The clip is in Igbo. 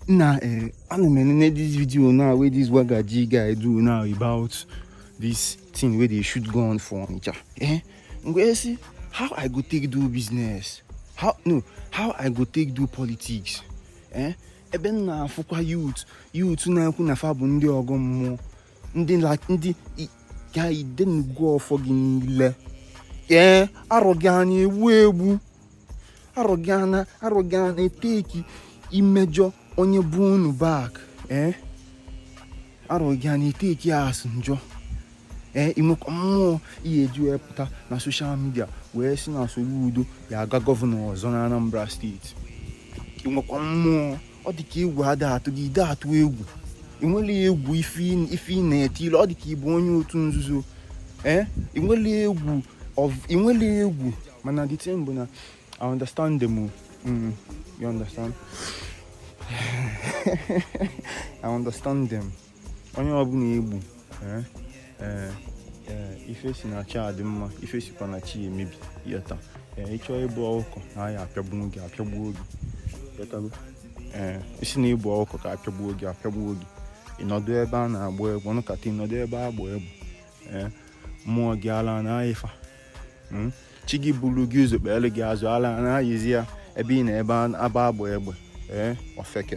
Now, uh, eh, I don't know this video now where this Wagaji guy do now about this thing where they shoot gun for Onitsha. Eh? Ngwa see how I go take do business. How no, how I go take do politics. Eh? Ebe m na-afụkwa youth youth na-ekwu na fa bụ ndị ọgọ mmụọ ndị ndị ga idenugo ọfọ gị niile ee arọ gị anya egbu egbu arụgana arụgana eteki imejọ onye bụ unu back ee eh? arụgana eteki asị njọ ee eh, i nwekwa mmụọ ihe eji wee pụta na social media wee sị na Soludo ya aga gọvanọ ọzọ na Anambra steeti i nwekwa mmụọ ọ dị ka egwu ada atụ gị ị da atụ egwu i nwele egwu ife ị na-eti ilu ọ dị ka ị bụ onye otu nzuzo ee eh? i nwele egwu i nwele egwu mana the thing bụ na I understand them o mm, you understand I understand them onye ọbụna egbu eh, eh, eh, ife si na chi adị mma ife sikwa na chi emebi yọta ị chọọ ịbụ ọkụkọ na ya apịagbu gị apịagbuo gị ị sị na ị bụ ọkụkọ ka apịagbuo gị apịagbuo gị ị nọdụ ebe a na-agba egwu ọnụkata ị nọdụ ebe a gba egwu mmụọ gị ala na-ayị fa hmm? chi gị buru gị ụzọ kpeelu gị azụ ala na-ayịzi ya ebe ị na ebe aba agba egbe ee ofeke